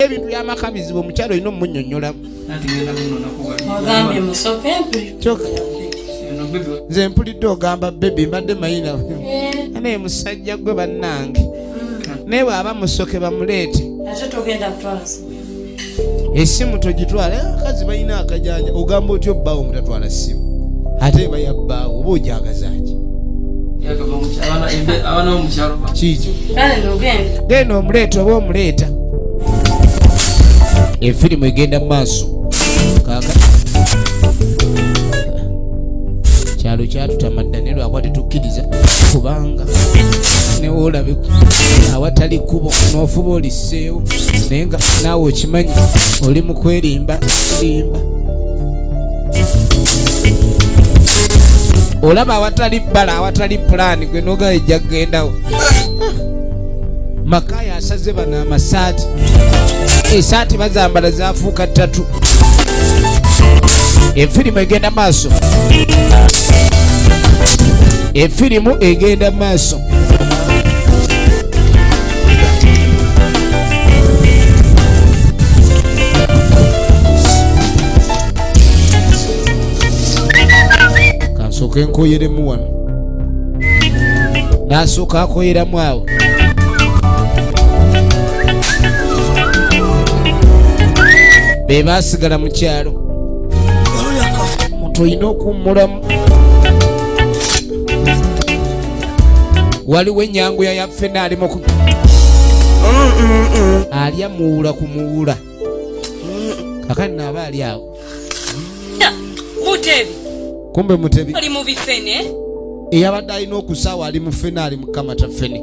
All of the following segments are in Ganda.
ebintu byamaka bizibu omukyalo olina omunyonyola nze mpulidde ogamba bebi mbadde mayina eh. naye musajja gwe bannange mm. naye bwaba musoke bamuleete esimu togitwala eh, akazi balina akajanja ogamba otya obbaawo mutatwala simu ate bayabbaawo oba ojagazaki kikyo genda omuleeta oba omuleeta efirimu egenda mu maaso kaka kyalo kyatutamadda ne lwakuba tetukkiriza kubanga newoolabe awatali kkubo noofuba oliseewo naye nga naawe okimanyi oli mu kwerimba limba olaba awatali bbala awatali pulaani gwe nogaa ejja kugendawo makaya asaze bano amasaati esaati bazambala zafuuka ttatu efirimu egenda maaso efirimu egenda maaso nsooke nkoyeremu wano nasooka akoyeramu awo be baasigala mu kyalo muntu olina okuwummulamu waliwo enyanguya ya ffena ali muku alya muwula ku muwula kakani naaba ali awo mutebi kumbe mutebi ali mu bifene eyabadde alina okusaawa ali mu ffene ali mukamata ffene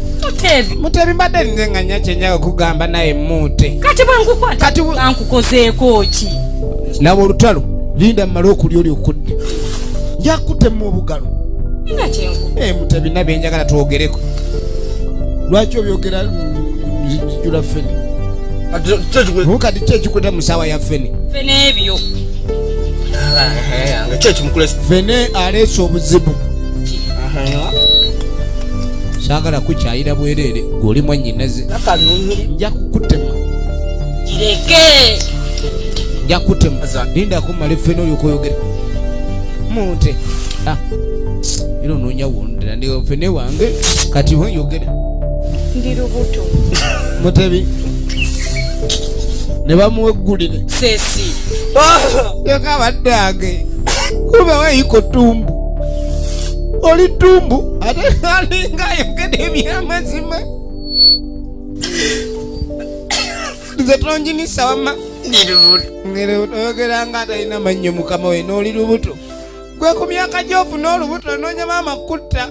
mutebi mutebi mbadde nze nga nya kyenyaga kugamba naye muute kati bwenkukwataankukozeeko ki laba olutalo linda mumale okulya oli okudde njakutemu obugalo eh, mutebi nabyenjagala twogereko lwaki obyogera jula fene mukati kyekikweta musawa ya fene fene aleese obuzibu saagala kukyayira bwereere gweoli mwanyinaze nja kukutema kireke nja kukutema linda kumala effe noli okoyogera munte ah. era onoonya wondera ndi ffe ne wange kati weyogera ndi lubuto mutebi ne bamuweggulire sesi ah! yokabadde age kuba weyiko tumbu oli ddumbu ate alinga ayogede ebyamazima nze tonjinisa wama oyogera nga atalina mannyo mukama we n'oli lubuto gwe ku myaka gyofuna olubuto onoonya maama kutta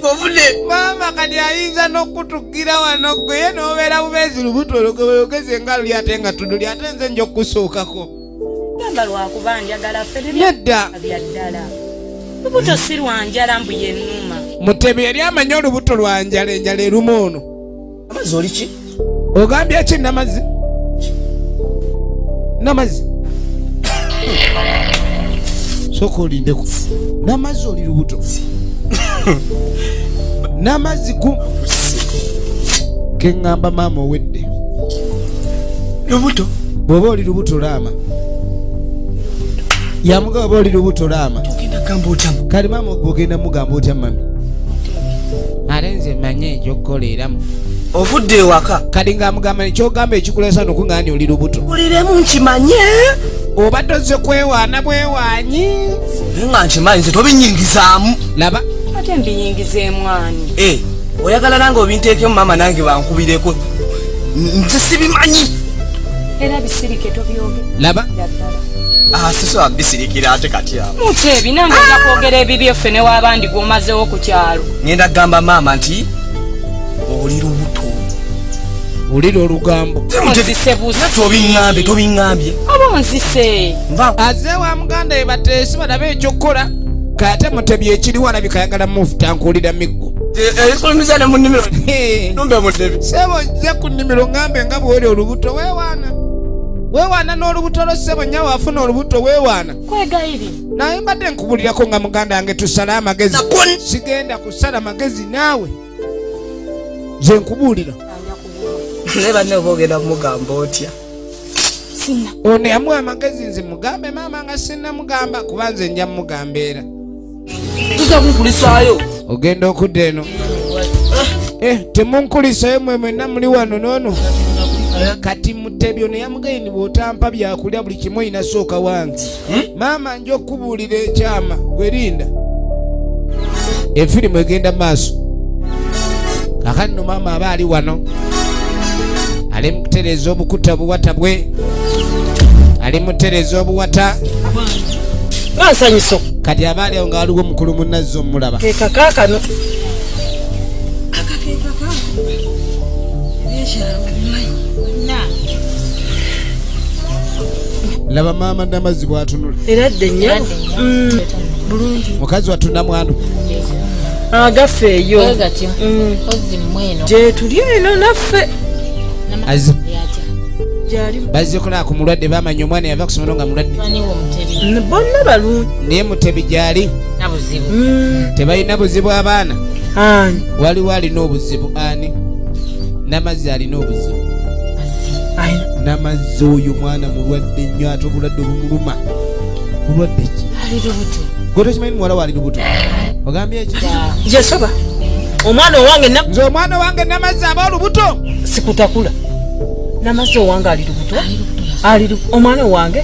ovune maama kati ayinza n'okutugira wano gweye n'obeera bubeezi lubuto olugobeyogeze nga luli ate nga tuduli ate nze nja okukusuukako gamba lwakuba njagala fenedda byaddala lubuto si lwanjala mbu yenuma mutebi yali amanyi olubuto lwanjala enjala eruma ono amazi oli ki ogambye ki namazi namazi soka olindeko namazi oli lubuto namazi ku keŋŋamba maama owedde lubuto bwoba oli lubuto laama yamuga oba oli lubuto laama kale maama ogenda mugamba otya mami ate nze manye ekyokukola eramu ovudde ewaka kati ngaamugamba nekyogamba ekikulesa nokungani oli lubuto uliremu nkimanye oba tozze kwewaana bwewaanyi nga nkimanyi nze tobinyingizaamu laba ate mbinyingiza emwani eh, oyagala nange obinteekemu maama nange bankubireko nze sibimanyi era bisirike tobyoge laba ah, sisobola bisirikira ate kati awo muki ebi nange nja kwogera ebibyo ffe newabandi gwomazewo ku kyalo ngenda kugamba maama nti oli lubuto wulira olugambo tobiambye tobiambye abonzise aze wa muganda ebateesi balabe ekyokukola kate mutebye ekiriwo alabika ayagala muvuta nkuwulira miggo ebifulumiza ne mu nnimiro numbe mudebi sebo nze ku nnimiro ngambe nga bwoli olubuto wewaana wewaana n'olubuto lwo sebo nyawo afuna olubuto wewaana kwegayiri naye mbadde nkubulirako nga muganda wange tusale amagezi sigenda kusala magezi naawe nze nkubuulira naye banne oba ogenda kumugamba otya ono yamuwa amagezi nze mugambe maama nga sinnamugamba kuba nze nja mugamba era tuzakunkulisaayo ogenda okudda eno eh, temunkulisayo mwe mwena muli wano nono kati mutebyo neyamugayini bwotampa byakulya buli kimu oyina sooka wange hmm? maama nja okukubuulira ekyama gwerinda efirimu egenda maaso kakati no maama aba ali wano ali mukutereeza obukuta obuwata bwe ali mutereeza obuwata bansanyuso kati abaali awo nga waliwo omukulu munazzi omulaba kekakakano laba maama namazzi bwatunula era dde nyo mm. bulungi mukazi wattu namwano agaffe eyo mm. gyetuli eno naffe bazikola ku mulwadde bamanya omwana yava kusomero nga mulwadde bonna balungi naye mutebi gyali mm. tebalina buzibu abaana waliwo alina obuzibu ani namazzi alina obuzibu namazzi oyo mwana mulwadde nnyo ate obulwadde obumuluma bulwadde ki gotokimanyi muwala waali lubuto ogambye ki yasaba omwana owange nze omwana owange namazzi aba olubuto sikutakula namazzi owange ali lubuto ali omwana owange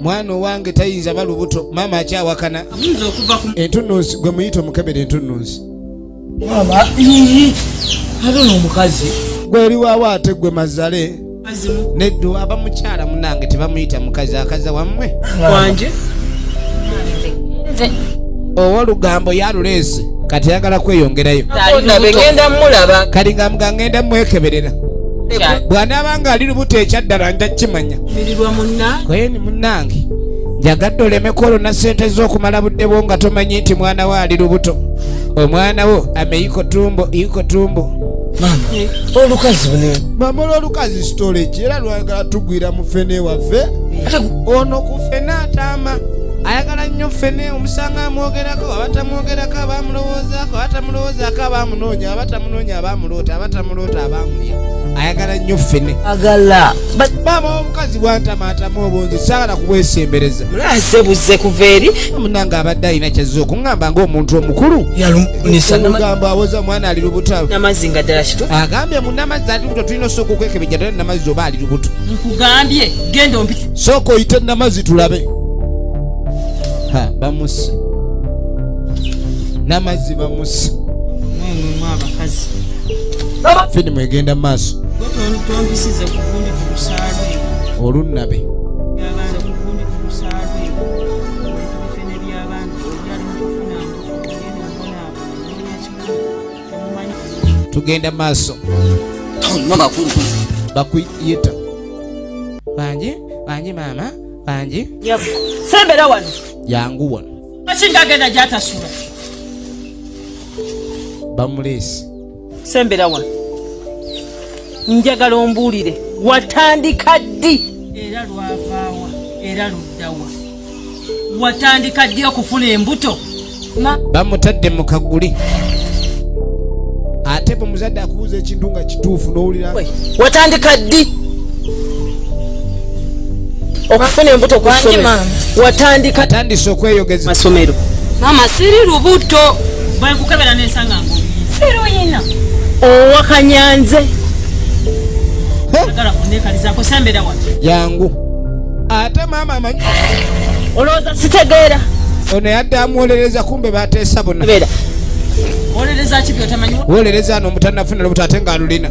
mwana owange tayinza ba lubuto maama akyawakana entunnunsi gwe muyita omukebera entunnunsi gweri waawo ate gwe mazale neddu aba mukyala munange tebamuyita mukazi akaza wammwe owolugambo yaluleese kati ayagala kweyongerayo kati nga mugangenda mwekeberera bwanaaba nga ali lubuto ekyaddala nja kimanya kweni munange njagadde olemeko olwo na ssente z'okumala budde bwo nga tomanyi nti mwana wo ali lubuto omwana wo ameiko tumbo iko tumbo olukazi mama olwolukazi storage era lwagala tugwira mu fene waffe ono ku fene ataama ayagala nnyo ffene omusanga amwogerako abatamwogerako abamulowoozaako abatamulowozaako abamunoonya abatamunoonya abamuloota mulota abamulya ayagala nnyo ffene agala maama omukazi bwantamaatamu obungi saagala kubwesembereza mulase buzze kuva eri munange abadde alina kyazza okuŋŋamba ng'omuntu omukulu yalumugambo awoza omwana ali lubuto namazzi nga ddala kitu agambye munamazzi ali lubuto tulina osooka okwekebejja ddala namazzi oba ali lubuto nkugambye genda ompi sooka oyite namazzi tulabe ha bamusa namazzi bamusa mwemwemwe abakazi firimu egenda mu maaso olunnabe tugenda maaso bakuyita bangi bangi maama bangi sembera wano yangu wano akingagenda gyatasula bamuleesi sembera wano njagala ombuulire watandika ddi era lwavaawa era luddawa watandika ddi okufuna embuto bamutadde mu kaguli ate bwe muzadde akubuuza ekintu nga kituufu n'owulira watandika ddi okufuna embuto watandika atandise okweyogeza masomero mama siri lubuto bwekukebera nensanga ngo siruyina owakanyanze yangu ate mama amanyi olowooza sitegeera ono yadde amuwolereza kumbe bateesa bona wolereza no mutanafuna lubuto ate nga alulina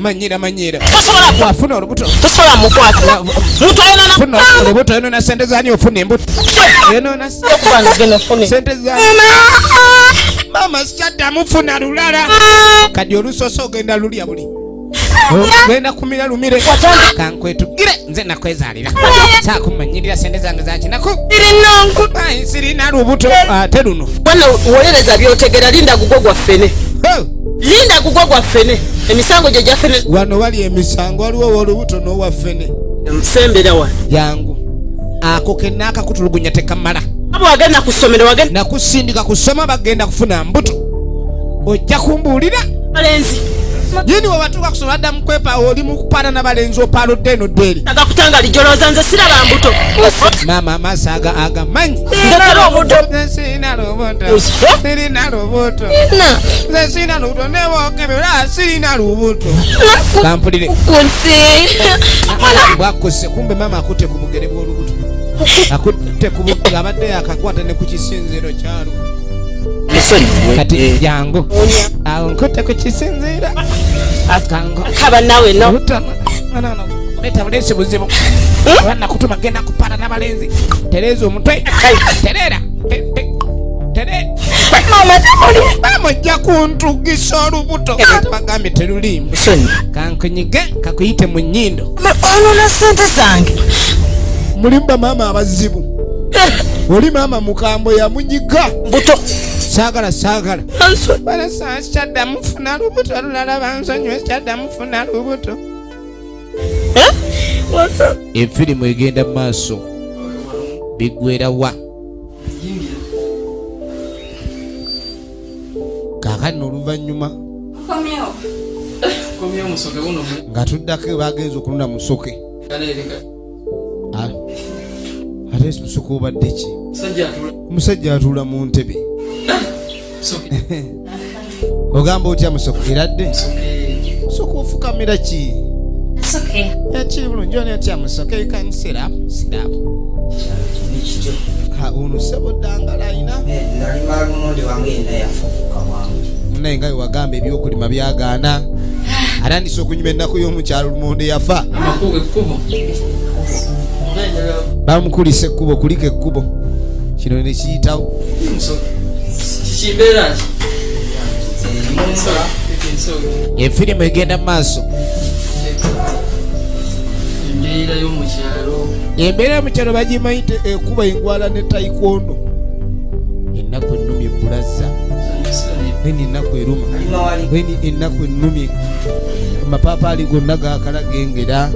manyira manyira wafuna olubuto olubuto yonona sente zani ofuna embuto yonona sente zani mama sikyadda mufuna lulala kadi olusosa ogenda lulya buli ogenda kumira lumire kankwetukire nze nakwezalira kyakumanyirira sente zange zakinaku sirina lubuto ate luno wano wolereza byotegera linda gugwo gwaffene linda gugwo gwaffene emisango gyo gyafene wano wali emisango waliwo wolubuto nowaffene sembera wano yangu ako kenna akakutulugunya tekamala abo wagenda kusomera wagenda nakusindika kusoma bagenda kufuna mbuto ojja kumbuulira balenzi yini webatuuka kusoma adda mukwepa oli mukupaana nabalenzi opaaludde eno ddeeri agakutanga lijolooza nze siraba mbuto maama amaaso aga agamanyi sirina lubuto sirina lubuto nze sirina lubuto nebokebe olaba sirina lubuto kampulire bwakkuse kumbe maama akutte ku bugere bw'olubuto akutte ku abadde yakakwata ne ku kisinziiro kyalwo kati jangu awo nkute ku kisinziira akango kaba nawe no leta buleesi buzibu oba nakutuma genda kupata n'abalenzi tereeza omutwe tereera bamujja kuntugisa olubuto bagambye teruliimu kankunyige kakuyite mu nyindo olona sente zange mulimba maama abazibu oli maama mukambwe yamunyiga buto saagala saagala balasaa sikyaddamu funa lubuto lulala bansonyiwe sikyaddamu funa lubuto efirimu egenda mu maaso biggwera wa kakati noluvannyuma nga tuddako bagenza okununa musoke ah. ate musuka obadde ki omusajja atuula mu ntebe ogamba otya musuka eradde musuka ofukamira ki ekiri bulungi ona otya musuka ekanisera sirabu ono sebo dangala ayina munaye nga wewagamba ebyokulima byagaana atandise okunyuma ennaku y'omukyalo lumonde yafa bamukulisa ekkubo kulika ekkubo kino nekiyitawo efirimu egenda mu maaso embeera yomukyalo bagimanyi ekuba engwala ne taikondo ennaku ennumye bulazza eni ennaku eruma eni ennaku ennumye amapaapaali gonna gakala gengera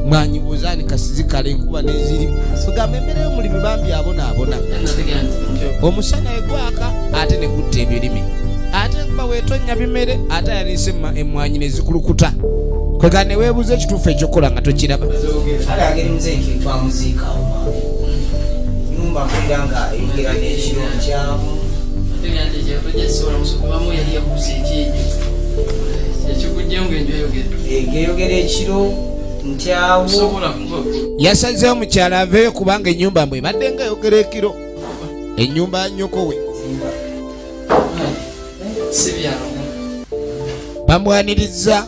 mwanyibuuza ni kasizikale enkuba neziri ogamba embeera y'omulimi bambi abonaabona omusana egwaka ate ne gutta ebirime ate nkuba wetonnya bimere ate ayaniise emmwanyi ne zikulukuta kwega ne weebuuza ekituufu ekyokukola nga tokiraba nyumba mpulira nga eyogera n'ekiro nkyamu ngeyogera ekiro ntyawo yasazeewo mukyala aveeyo kubanga enyumba mbwe ebadde nga yogera ekiro enyumba nyoko we bamwanirizza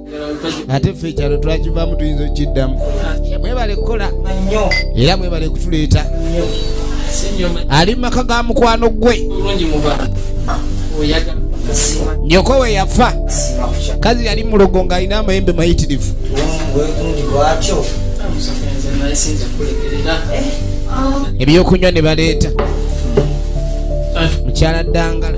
ate ffe ekyalo twakivaamu tuyinza okukiddamu mwebale kukola era mwebale kutuleeta ali mumaka ga mukwano gwe nyoko we yafa kazi yali mulogo ng'alina amayembe mayitirivu ebyokunywa ne baleeta mukyala ddangala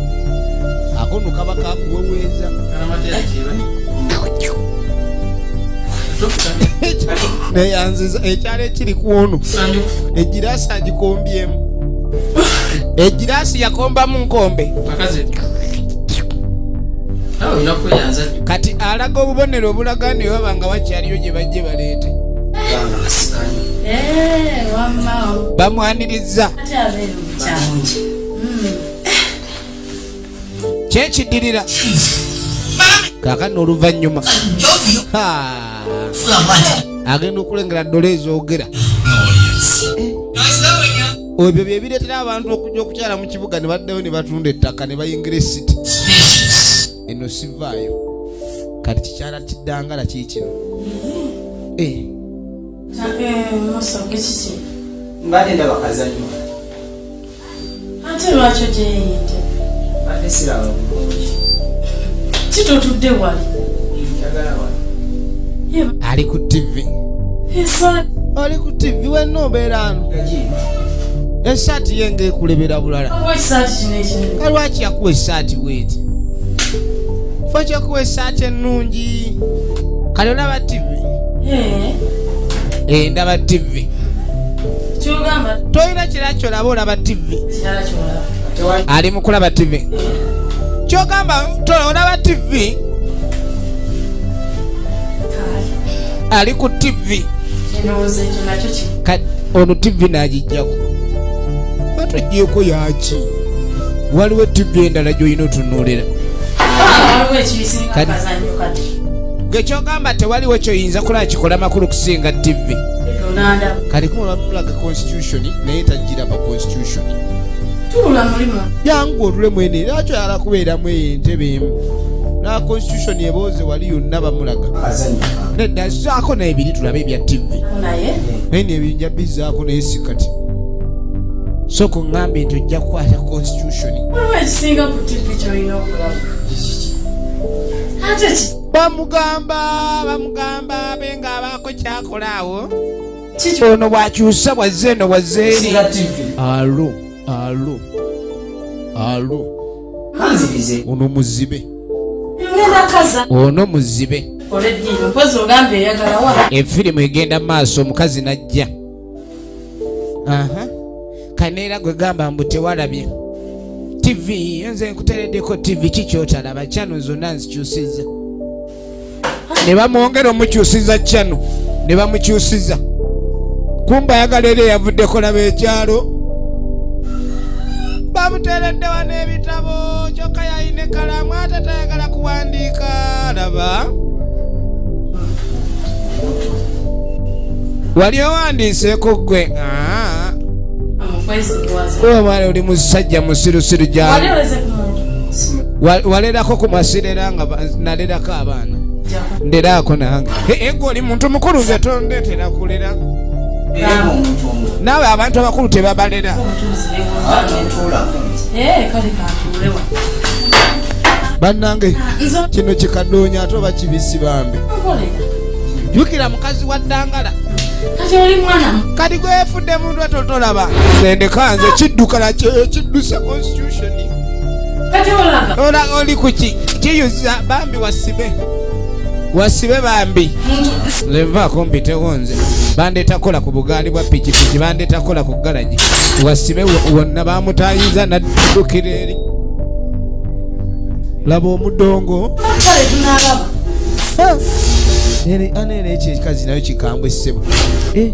akono kaba kakuweweeza neyanziza ekyalo ekiri kwono egiraasi agikombyemu egiraasi yakombamu nkombe kati alaga obubonero obulaga ni waba nga wakyaliyo gye bajje baleete eh, bamwanirizza kyekiddirira kakano oluvannyuma agenda okulengera ddola ezoogera ebyo byebireetera abantu okujja okukyala mu kibuga ne baddayo ne batunda ettaka ne bayingira esiti eno sivaayo kati kikyala kiddangala kiikino eh. mbadde ndabakazanyo ate lwaki ogyeyinde ate siraba bulungi kitotudde wali ali ku tivi oli ku tivi wenna obeera ano esaati ye nga ekulebera bulala kalwaki yakuwa esaati weeti fa kyakuwa esaati ennungi kale olaba tivi eh, ndaba tivi tolina kira kyolaba olaba tv ali mukulaba tv kyogamba olaba tv ali ku tv ono tv nagijjaku batujeko yaki waliwo tv endala gyolina otunulira ah, gekyogamba tewaliwo kyoyinza kulaba kikola makulu kusinga tv kati kumulaga constitution naye tajira ba constitution yangu otule mwene era akyo yala kubeeramu eyo entebe emu na constitution ebooze wali yonna bamulaga nedda zaako naye biri tulabe ebya tivi naye nebinja bizaako naye si kati so ku ŋŋambe nti ojja kukwata constitution bamugamba bamugamba benga abako kyakola awo kiki ono bwakyusa bwazze eno bwazze eri alo alo alo ono muzibe ono muzibe efirimu egenda maaso omukazi najja kaneera gwe gamba mbu tewalabye tv nze nkuteredeko tv kikyotalaba kyano zonna nzikyusiza ne bamwongera omukyusiza kyano ne bamukyusiza kumba ayagala era eyavuddeko laba ekyalo bamuteereddewa n'ebitabo kyokka yayina ekalamu ate tayagala kuwandiika laba wali owandiiseeko ggwe ah. omwana oli musajja musirusiru gyali walerako ku masirera nga nalerako abaana nderaako nange ego oli muntu mukulu nze tondetera kulera naawe abantu abakulu tebabalera eh, bannange kino kikadoonya ate oba kibisi bambi jukira mukazi wa ddangala kati gwefudde muntu atotolaba nendeka nze kiddukala kidduse constitution olaga oli kuki kiyuza bambi wasibe wasibe bambi lenva akumbitewo nze bandeeta kukola ku bugaali bwa pikipiki bandeeta kukola ku galagi wasibe wonna bamutayiza naddukira eri laba omudongo ana era ekyo ekikazi nayo kikambwe ssebo eh.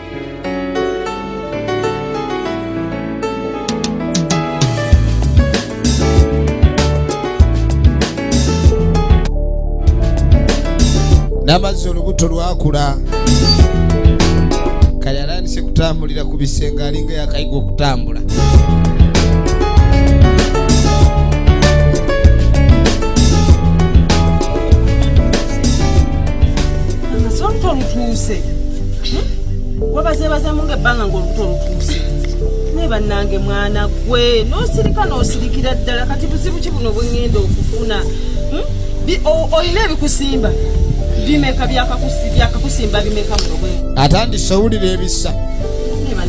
namazzi olubuto lwakula kale alandise kutambulira ku bisenge alinga yakayiga okutambula hmm? wabazebazamu nga ebbanga ngaolubuto olutuuse naye bannange mwana gwe nosirika nosirikira ddala kati buzibu ki buno bwengenda okufuna hmm? olina ebikusimba bimeka byakakusimba bimeka muno bwe atandise owulira ebisa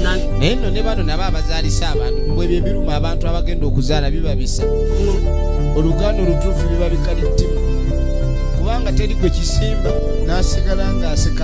naye no ne bano nabo abazaalisa abantu mbwebyo ebiruma abantu abagenda okuzaala biba bisa oluganda olutuufu biba bikalittima kubanga teri gwe kisimba n'asigala ng'asika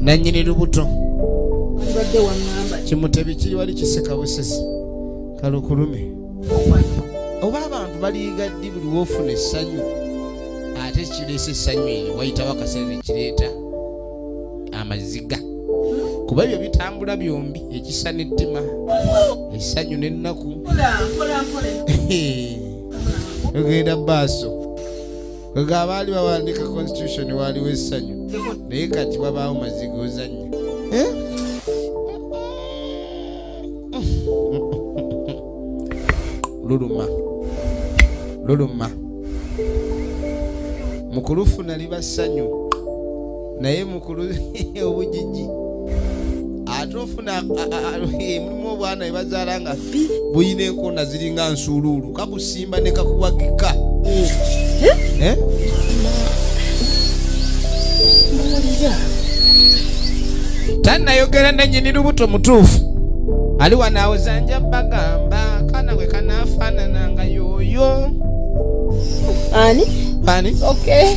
nanyini lubuto kimutebi kiri wali kiseka busesi kalukulume oba abantu baliiga ddi buli wofuna essanyu ate kireesa essanyu eyo wayitawo akaseera nekireeta amaziga kuba ebyo bitambula byombi ekisa n'ettima essanyu n'ennaku ogenda baaso nga abaali bawandiika constitution waaliwo essanyu naye kati wabaawo maziga ozannya eh? luluma luluma mu kulufuna liba ssanyu naye mukulu obujiji ate ofuna mulimu obwana ebazaala nga buyina enkona ziringa nsuuluulu kakusimba ne kakuwagika eh? tanayogera nanyini lubuto mutuufu ali wanaawezanja bagamba kana we kanafaanana nga yooyo ani ani okay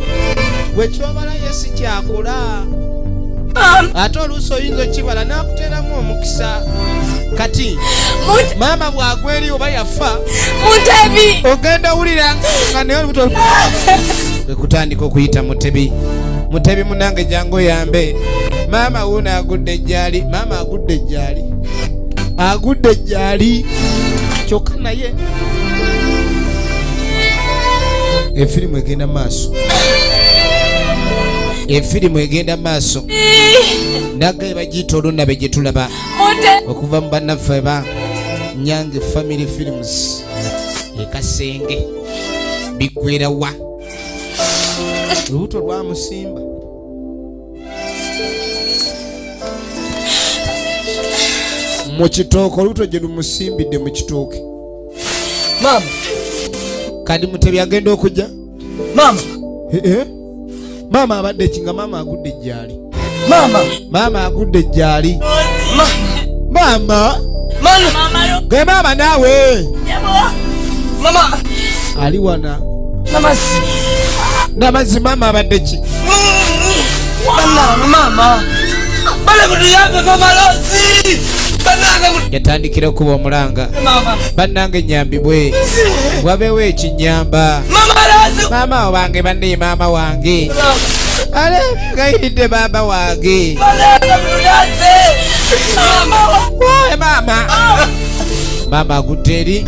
gwe kyobala ye si kyakula ate oluusi oyinza okibala n'akuteeramu omukisa kati maama bwagwa eri oba yafa mutebi ogenda wulira nga naye olubuto ekutandika okuyita mutebi mutebi munange jangu oyambe maama wuuno agudde ejjaali maama agudde ejjaali agudde ejjaali kyokka naye efirimu egenda maaso efirimu egenda maaso nagaye bagiyita olunnabe gye tulaba okuva mu bannaffe ba nyange family films ekasenge biggwera wa lubuto lwamusimba mu kitooke olubuto gye lumusimbidde mu kitooke maama kadi mutebi agenda okujja maama eh, eh. maama abadde ki nga maama agudde ejjaali maama maama agudde ejjaali maama ge maama naawe ali wana namazzi namazzi maama abadde ki maama yatandikira okuba omulanga bannange nyambibwe wabeewo ekinyamba maama wange banne maama wange alegayiridde baaba wange maama maama agudde eri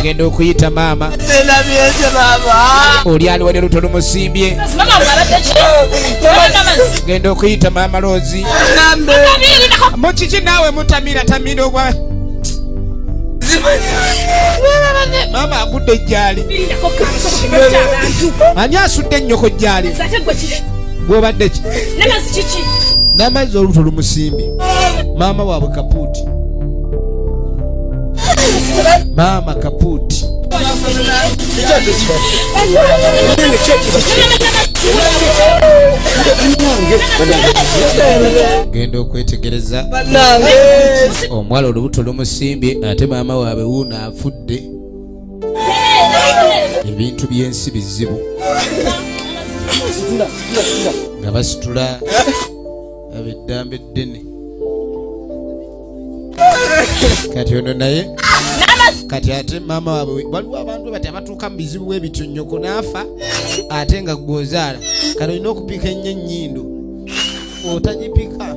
genda okuyita maama oli ali wali oluto lumusimbye genda okuyita maama loozi mukiki naawe mutamira tamira ogwa maama agudde ejjaali ani asudde ennyoko jjaali gwobadde ki n'amazzi olubuto lumusimbye maama waabwe kapuuti maama kapuuti genda okwetegereza omuwala olubuto lumusimbye ate maama waabwe wuuno afudde ebintu byensi bizibu nga basitula aba eddamba eddene kati ono naye kati ate maama waabwe waliwo abantu bati abatuuka mu bizibu bwebityo nyoko naafa ate nga gwozaala kati olina okupiika ennyo ennyindo otagipika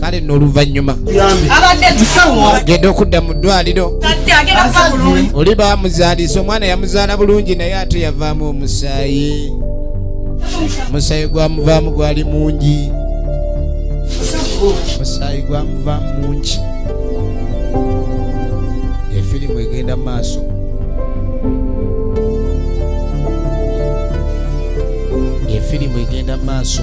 kale noluvannyuma genda okudda mu ddwaliro oli bamuzaalisa omwana yamuzaala bulungi naye ate yavaamu omusaayi omusaayi gwamuvaamu gwali mungi omusaayi gwamuvaamu mungi efirimu egenda mu maaso efirimu egenda mu maaso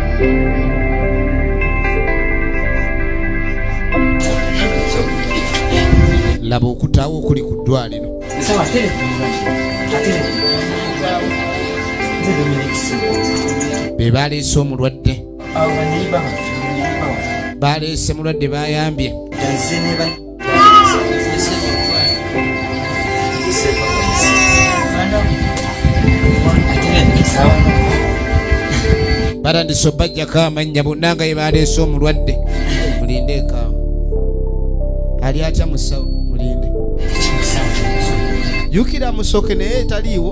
laba okutaawo okuli ku ddwaliro be baleese omulwadde baleese mulwadde bayambye batandise obajjako amannya bonna nga ye baleese omulwadde mulinde ekaawo ali atya musawo mulinde yukira musoke naye etaliiwo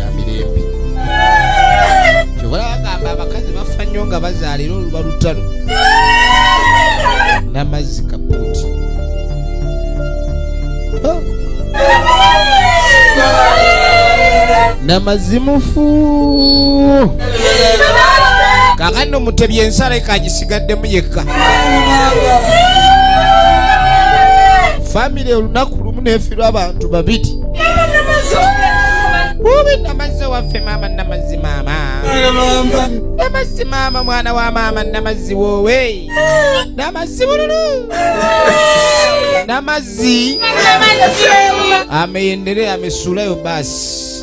ya mirembe kyobola bagamba abakazi bafa nnyo nga bazaala era oluba lutalo n'amazzi kapuuti oh. n'amazzi mufu kakati nomutebya ensala ekagisigaddemu yekka famire olunaku lumu nefirwa abantu babiri bubi namazzi owaffe maama namazzi maama namazzi maama mwana wa maama namazzi woowe namazzi bululu namazzi ameyendere amesuulayo basi